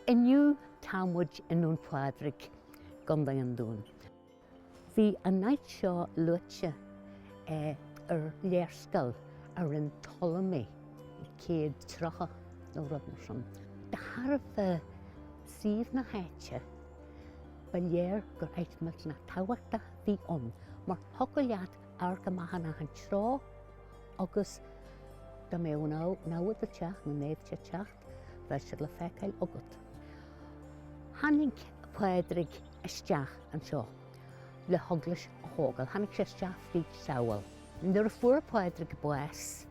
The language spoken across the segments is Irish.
Inniu tá muid i nDún Phádraig, Contae an Dúin. Bhí an áit seo luaite ar léarscáil a rinne Ptolemy i 130 nó rud mar sin. De thairbhe suíomh na háite, ba léir gur áit maith tábhachtach a bhí ann mar thiocfadh leat amharc go maith amach anseo agus dá mbeadh an namhaid ag teacht, na naimhde ag teacht, bheadh siad le feiceáil agat. Tháinig Pádraig isteach anseo le heaglais a thógáil. Tháinig sé isteach fríd Sabhall. Nuair a fuair Pádraig bás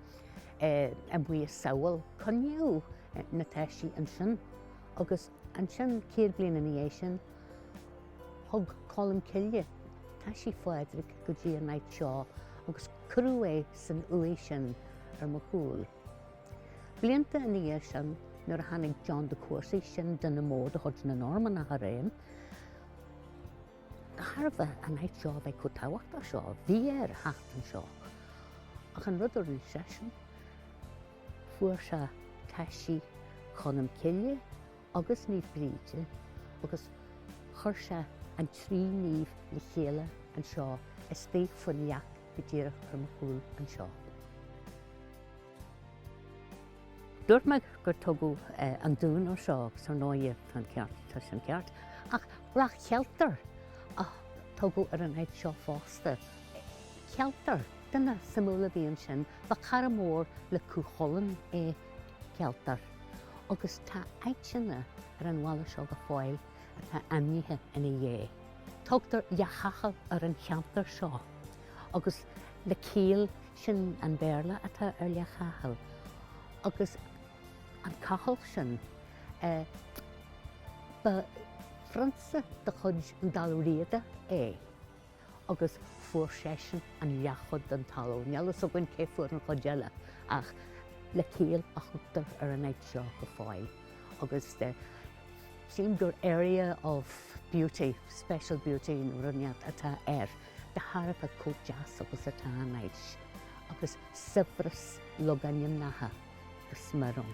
i mbaile Sabhall, coinníodh na taisí ansin agus Ansin, céad bliain ina dhiaidh sin, thug Colm Cille taisí Phádraig go dtí an áit seo agus cuireadh é san uaigh sin ar mo chúl. Blianta ina dhiaidh sin, nuair a tháinig John de Courcy, sin duine mór de chuid na Normannach ariamh, de thairbhe an áit seo a bheith chomh tábhachtach seo, bhí air theacht anseo. Ach an rud a rinne seisean, Fuair sé taisí Cholm Cille agus Naomh Bríde agus chuir sé an trí naomh le chéile anseo istigh faoin leac go díreach ar mo chúl anseo. Dúirt mé gur tugadh an Dún air seo agus ar ndóigh an ceart tá sin ceart ach Ráth Chealtair a tugadh ar an áit seo fosta. Cealtar, duine suimiúil a bhí ansin. Ba chara mór le Cú Chulainn é Cealtar agus tá áiteanna ar an bhaile seo go fóill atá ainmnithe ina dhiaidh. Tugtar Leath Chathail ar an cheantar seo agus Lecale sin an Béarla atá ar Leath Chathail agus an Cathal sin ba phrionsa de chuid Dál Riada é. agus fuair seisean an leathchuid den talamh. Níl a fhios againn cé fuair an chuid eile, ach Lecale a thugtar ar an áit seo go fóill, agus sílim gur area of beauty, special beauty nó rud ínteacht atá air, de thairbhe chomh deas agus atá an áit, agus saibhreas logainmneacha go smior ann.